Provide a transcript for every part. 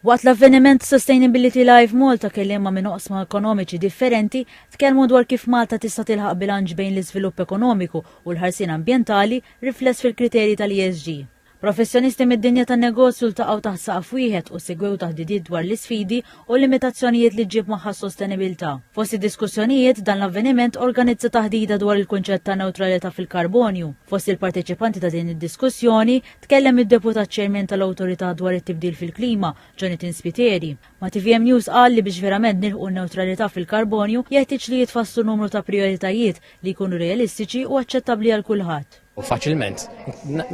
Waqt l-avveniment Sustainability Live Malta kelliema minn oqsma ekonomiċi differenti tkellmu dwar kif Malta tista' tilħaq bilanċ bejn l-iżvilupp ekonomiku u l-ħarsien ambjentali rifless fil-kriterji tal-ESG. Professjonisti mid-dinja tan-negozju ltaqgħu taħt saqaf wieħed u segwew taħdidiet dwar l-isfidi u l-limitazzjonijiet li ġġib magħha s-sostenibilità. Fost id-diskussjonijiet, dan l-avveniment organizza taħdita dwar il-kunċett ta' newtralità fil-karbonju. Fost il-parteċipanti ta' din id-diskussjoni, Tkellem id-Deputat Chairman tal-Awtorità dwar it-Tibdil fil-Klima, Jonathan Spiteri. Ma' tvm News qal li biex verament nilħqu n-newtralità fil-karbonju jeħtieġ li jitfasslu numru ta' prijoritajiet li jkunu realistiċi u aċċettabbli għal kulħadd. Faċilment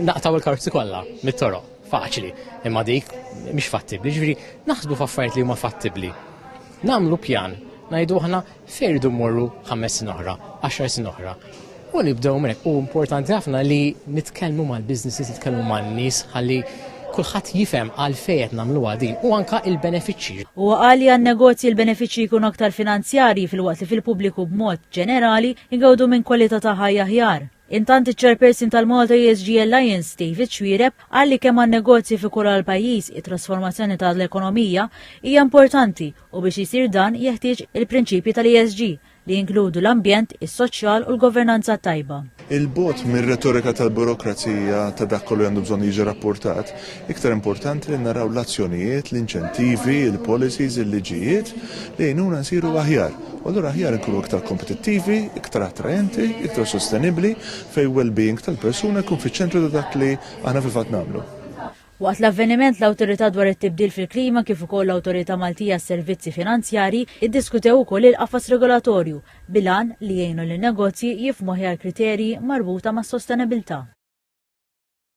naqtgħu l-karozzi kollha mit-toroq, faċli, imma dik mhix fattibbli. Jiġifieri naħsbu f'affarijiet li huma fattibbli. Nagħmlu pjan, ngħidu aħna Se jridu mmorru ħames snin oħra, għaxar snin oħra. U nibdew minn hekk. U importanti ħafna li nitkellmu mal-businesses, nitkellmu man-nies ħalli kulħadd jifhem għalfejn qed nagħmluha din u anke il-benefiċċji. Huwa qal li għan-negozji l-benefiċċji jkunu aktar finanzjarji filwaqt li fil-pubbliku b'mod ġenerali jgawdu minn kwalità ta' ħajja aħjar. Intant iċ-Chairperson tal-Malta ESG Alliance, David Xuereb, qal li kemm għan-negozji fi kulha l-pajjiż it-trasformazzjoni ta' l-ekonomija hija importanti u biex isir dan jeħtieġ il-prinċipji tal-ESG, li jinkludu l-ambjent, is-soċjal u l-governanza t-tajba. 'il bogħod mir-retorika tal-burokrazija ta' dak kollu li għandu bżonn jiġi rappurtat, iktar importanti li naraw l-azzjonijiet, l-inċentivi, il-policies, il-liġijiet li jgħinuna nsiru aħjar. U allura aħjar nkunu iktar kompetittivi, iktar attraenti, iktar sostenibbli fejn well-being tal-persuna jkun fiċ-ċentru ta' dak li aħna fil-fatt nagħmlu. Waqt l-avveniment l-Awtorità dwar it-Tibdil fil-Klima kif ukoll l-Awtorità Maltija għas-Servizzi Finanzjarji iddiskutew ukoll il-qafas regolatorju bil-għan li jgħinu lin-negozji jifhmu aħjar kriterji marbuta mas-sostenibbiltà.